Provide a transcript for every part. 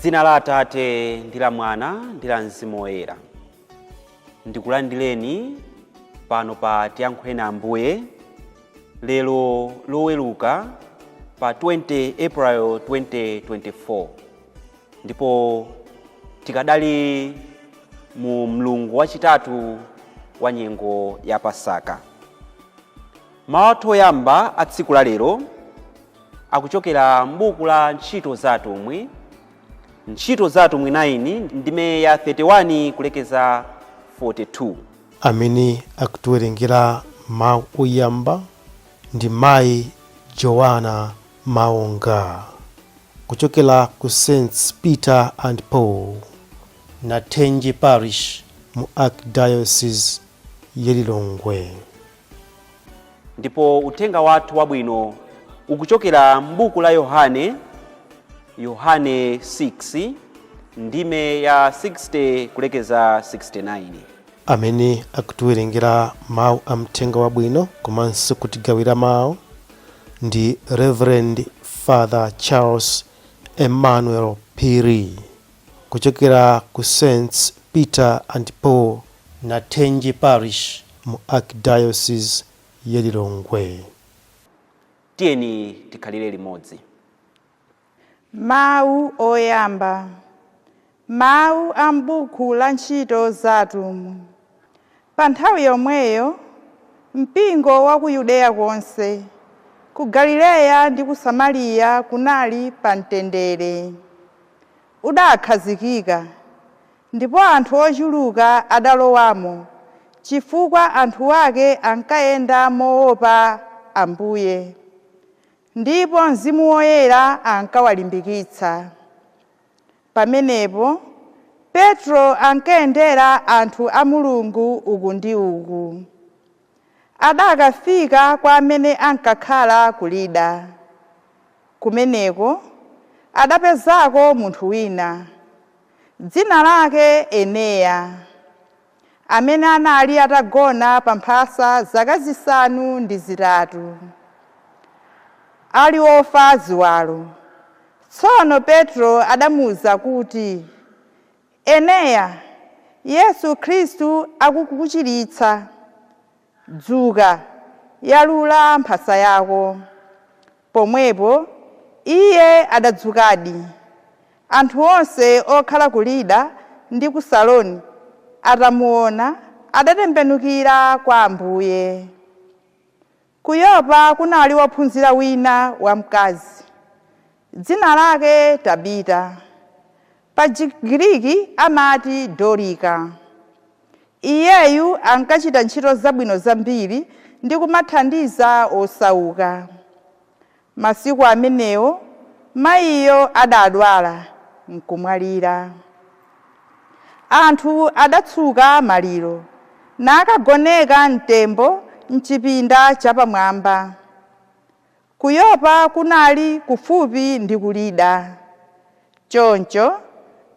dzina la atate ndi la mwana ndi la mzimu woyera ndikulandireni pano pa tiyankhuleni ambuye lero loweruka pa 20 april 2024 ndipo tikadali mu mlungu wachitatu wa nyengo ya pasaka mawu athu oyamba a tsiku la lero akuchokera m'buku la ntchito za atumwi ntchito za atumwi 9 ndime ya 31 kulekeza 42 amene akutiwerengera mawu oyamba ndi mayi joana maonga kuchokera ku Saints Peter and Paul, Nathenje Parish mu Archdiocese ya Lilongwe. Ndipo uthenga wathu wabwino ukuchokera m'buku la Yohane, Yohane 6 ndime ya 60 kulekeza 69. amene akutiwerengera mau a mthenga wabwino komanso kutigawira mau ndi Rev Father Charles Emmanuel Phiri kuchokera ku Saints Peter and Paul Nathenje Parish mu Archdiocese ya Lilongwe. Tiyeni tikhalire limodzi. Mawu oyamba, mawu a m'buku la Ntchito za Atumwi. Pa nthawi yomweyo, mpingo wa ku Yudeya konse, ku Galileya ndi ku Samariya kunali pa mtendere. Udaakhazikika, ndipo anthu ochuluka adalowamo, chifukwa anthu ake ankayenda moopa Ambuye Ndipo Mzimu Woyera ankawalimbikitsa. Pamenepo, Petro ankayendera anthu a Mulungu uku ndi uku. Adakafika kwa amene ankakhala ku Lida. Kumeneko adapezako munthu wina, dzina lake Eneya. amene anali atagona pa mphasa zaka zisanu ndi zitatu, ali wofa ziwalo. Tsono Petro adamuuza kuti, Eneya, Yesu Khristu akukuchiritsa. Dzuka, yalula mphasa yako. Pomwepo iye adadzukadi, anthu onse okhala ku Lida ndi ku Saroni atamuwona, adatembenukira kwa Ambuye. Ku Yopa kunali wophunzira wina wamkazi, Dzina lake Tabita, pa Chigiriki amati Dorika. Iyeyu ankachita ntchito zabwino zambiri ndi kumathandiza osauka. Masiku amenewo mayiyo adadwala nkumwalira. Anthu adatsuka maliro nakagoneka mtembo m'chipinda chapamwamba. Ku Yopa kunali kufupi ndi ku Lida. Choncho,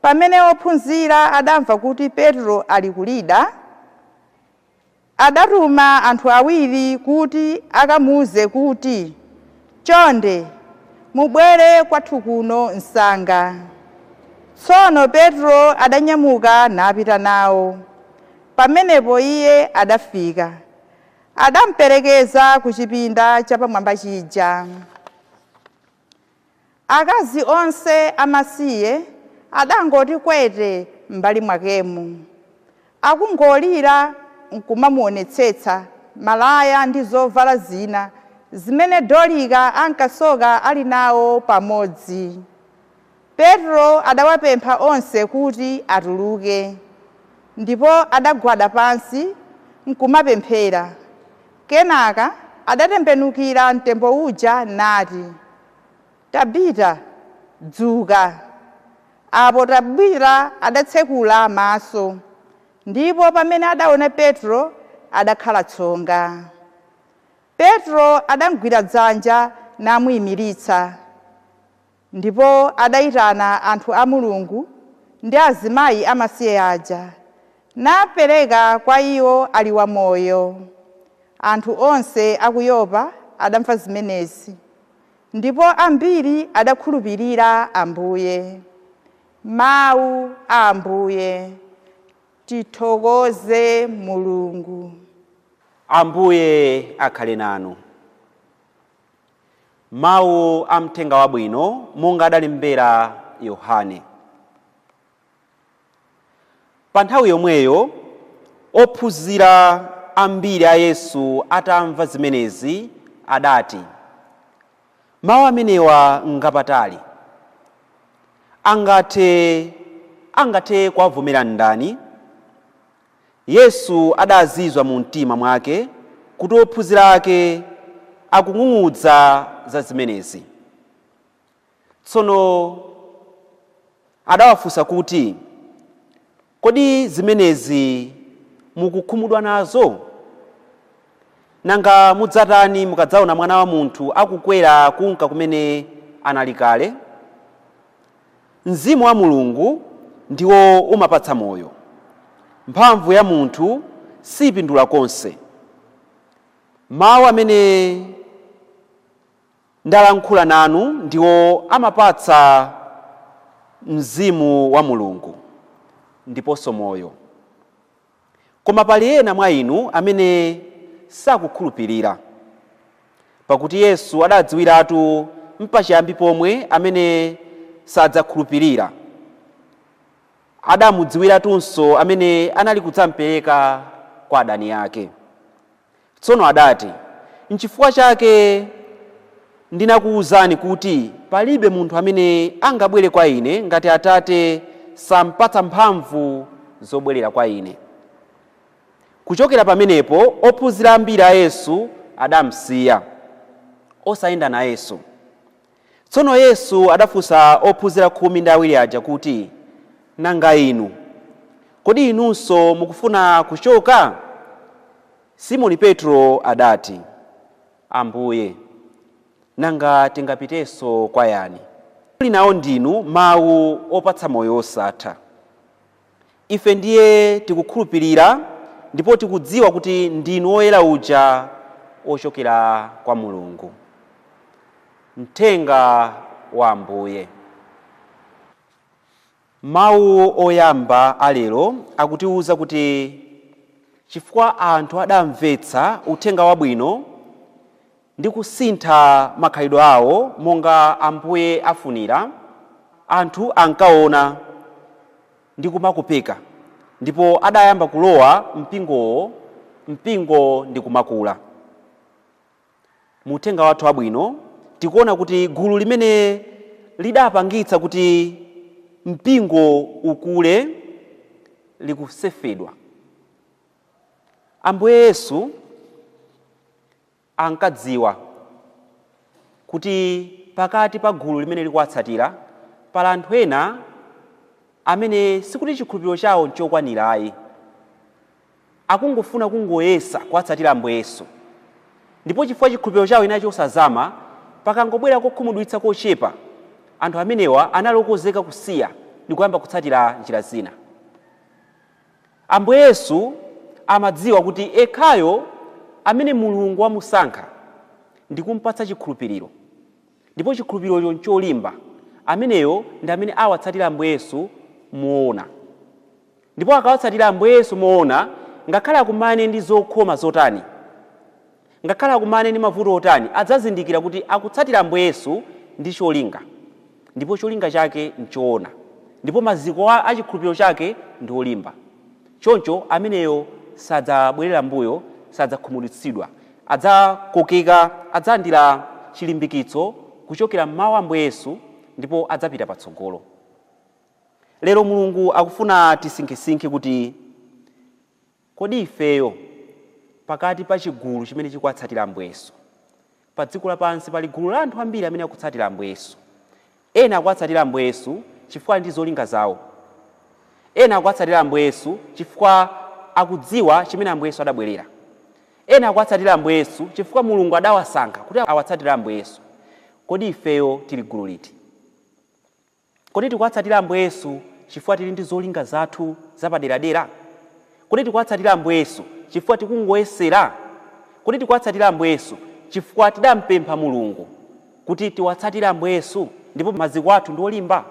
pamene ophunzira adamva kuti Petro ali ku Lida, adatuma anthu awiri kuti akamuuze kuti, Chonde, mubwere kwathu kuno msanga. Tsono Petro adanyamuka napita nawo. Pamenepo iye adafika, Adamperekeza ku chipinda chapamwamba chija. Akazi onse amasiye adangoti kwete m'mbali mwakemu, akungolira nkumamuonetsetsa malaya ndi zovala zina zimene Dorika ankasoka ali nawo pamodzi. Petro adawapempha onse kuti atuluke, ndipo adagwada pansi nkumapemphera. Kenaka adatembenukira mtembo uja nati, Tabita, dzuka. Apo Tabita adatsekula maso, ndipo pamene adaona Petro, adakhala tsonga. Petro adamgwira dzanja namuimiritsa. Ndipo adaitana anthu a Mulungu, ndi azimayi amasiye aja, napereka kwa iwo ali wamoyo. Anthu onse a ku Yopa adamva zimenezi, ndipo ambiri adakhulupirira Ambuye. Mawu a Ambuye. Tithokoze Mulungu. Ambuye akhale nanu. Mawu a Mthenga Wabwino monga adalembera Yohane. Pa nthawi yomweyo ophunzira ambiri a Yesu atamva zimenezi adati, Mawu amenewa ngapatali. Angathe angathe kuwavomera ndani? Yesu adadziwa mumtima mwake kuti ophunzira ake akung'ung'udza za zimenezi. Tsono adawafunsa kuti, Kodi zimenezi mukukhumudwa nazo? Nanga mudzatani mukadzaona Mwana wa Munthu akukwera kunka kumene anali kale? Mzimu wa Mulungu ndiwo umapatsa moyo. Mphamvu ya munthu siipindula konse. Mawu amene ndalankhula nanu ndiwo amapatsa mzimu wa Mulungu ndiponso moyo. Koma pali ena mwa inu amene sakukhulupilira. Pakuti Yesu adadziwiratu mpachiyambi pomwe amene sadzakhulupilira. Adamudziwiratunso amene anali kudzamupereka kwa adani ake. Tsono adati, Nchifukwa chake ndinakuuzani kuti palibe munthu amene angabwere kwa Ine ngati Atate sampatsa mphamvu zobwerera kwa Ine. Kuchokera pamenepo ophunzira ambiri a Yesu adamsiya, osayenda nayenso. Tsono Yesu adafunsa ophunzira khumi ndi awiri aja kuti, Nanga inu, kodi inunso mukufuna kuchoka? Simoni Petro adati, Ambuye, nanga tingapitenso kwa yani? Muli nawo ndinu mau opatsa moyo wosatha. Ife ndiye tikukhulupirira ndipo tikudziwa kuti ndinu Woyera uja wochokera kwa Mulungu, mthenga wa Ambuye. Mawu oyamba a lero akutiwuza kuti chifukwa anthu adamvetsa Uthenga Wabwino, ndi kusintha makhalidwe awo monga Ambuye afunira, anthu ankaona ndi kumakopeka ndipo adayamba kulowa mpingowo mpingo ndi kumakula. Mu Uthenga Wathu Wabwino tikuona kuti gulu limene lidapangitsa kuti mpingo ukule likusefedwa. Ambuye Yesu. ankadziwa kuti pakati pa gulu limene likuwatsatira pali anthu ena amene sikuti chikhulupiriro chawo n'chokwanira ayi, akungofuna kungoyesa kuwatsatira Ambuye Yesu, ndipo chifukwa chikhulupiriro chawo chinali chosazama, pakangobwera kokhumudwitsa kochepa, anthu amenewa anali okonzeka kusiya ndikuyamba kutsatira njira zina. Ambuye Yesu amadziwa kuti ekhayo amene Mulungu wamusankha ndi kumpatsa chikhulupiriro, ndipo chikhulupirirocho ncholimba, ameneyo ndi amene awatsatira Ambuye Yesu moona. Ndipo akawatsatira Ambuye Yesu moona ngakhale akumane ndi zokhoma zotani. Ngakhale akumane ndi mavuto otani, adzazindikira kuti akutsatira Ambuye Yesu ndi cholinga, ndipo cholinga chake n'choona, ndipo maziko a chikhulupiriro chake ndi olimba. Choncho, ameneyo sadzabwerera m'mbuyo, sadzakhumudwitsidwa, adzakokeka, adzalandira chilimbikitso kuchokera m'mawu a Ambuye Yesu, ndipo adzapita patsogolo. Lero Mulungu akufuna tisinkhe-sinkhe kuti. Kodi ifeyo, pakati pa chigulu chimene chikuwatsatira Ambuye Yesu? Padziko lapansi pali gulu la anthu ambiri amene akutsatira Ambuye Yesu. Ena akuwatsatira Ambuye Yesu chifukwa ndi zolinga zawo. Ena akuwatsatira Ambuye Yesu chifukwa akudziwa chimene Ambuye Yesu adabwerera. Ena akuwatsatira Ambuye Yesu chifukwa Mulungu adawasankha kuti awatsatire Ambuye Yesu. Kodi ifeyo tili gulu liti? Kodi tikuwatsatira Ambuye Yesu chifukwa tili ndi zolinga zathu zapaderadera? Kodi tikuwatsatira Ambuye Yesu chifukwa tikungoyesera? Kodi tikuwatsatira Ambuye Yesu chifukwa tidampempha Mulungu kuti tiwatsatire Ambuye Yesu ndipo maziko athu ndi olimba?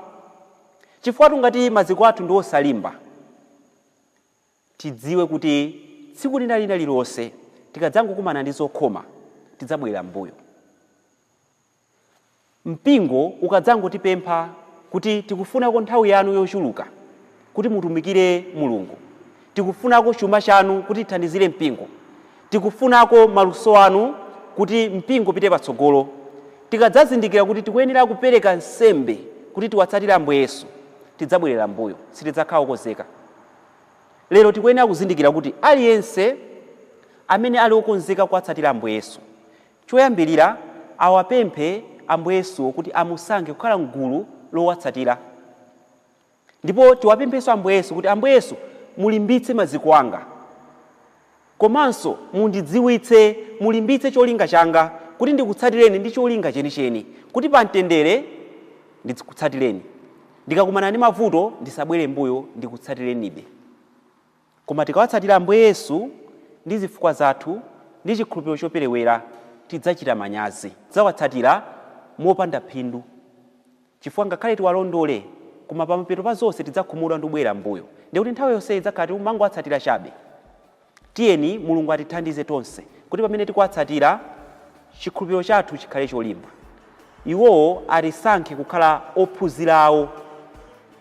Chifukwatu ngati maziko athu ndi osalimba, tidziwe kuti tsiku lina lina lilonse tikadzangokumana ndi zokhoma, tidzabwera m'mbuyo. Mpingo ukadzangotipempha kuti tikufunako nthawi yanu yochuluka kuti mutumikire Mulungu, tikufunako chuma chanu kuti tithandizire mpingo, tikufunako maluso anu kuti mpingo upite patsogolo, tikadzazindikira kuti tikuyenera kupereka nsembe kuti tiwatsatire Ambuye Yesu, tidzabwerera m'mbuyo, sitidzakhala okonzeka. Lero tikuyenera kuzindikira kuti aliyense amene ali okonzeka kuwatsatira Ambuye Yesu, Choyambirira, awapemphe Ambuye Yesu kuti amusankhe kukhala m'gulu lowatsatira. Ndipo tiwapemphenso Ambuye Yesu kuti, Ambuye Yesu, mulimbitse maziko anga. Komanso, mundidziwitse, mulimbitse cholinga changa, kuti ndikutsatireni ndi cholinga chenicheni, kuti pa mtendere ndizikutsatireni, ndikakumana ndi mavuto ndisabwere m'mbuyo, ndikutsatirenibe. Koma tikawatsatira Ambuye Yesu ndi zifukwa zathu ndi chikhulupiliro choperewera, tidzachita manyazi. Tidzawatsatira mopanda phindu chifukwa ngakhale tiwalondole, koma pamapeto pa zonse tidzakhumudwa ndi kubwerera m'mbuyo. Ndiye kuti nthawi yonse idzakhala timangowatsatira chabe. Tiyeni Mulungu atithandize tonse kuti pamene tikuwatsatira, chikhulupiliro chathu chikhale cholimba. Iwowo atisankhe kukhala ophunzira awo.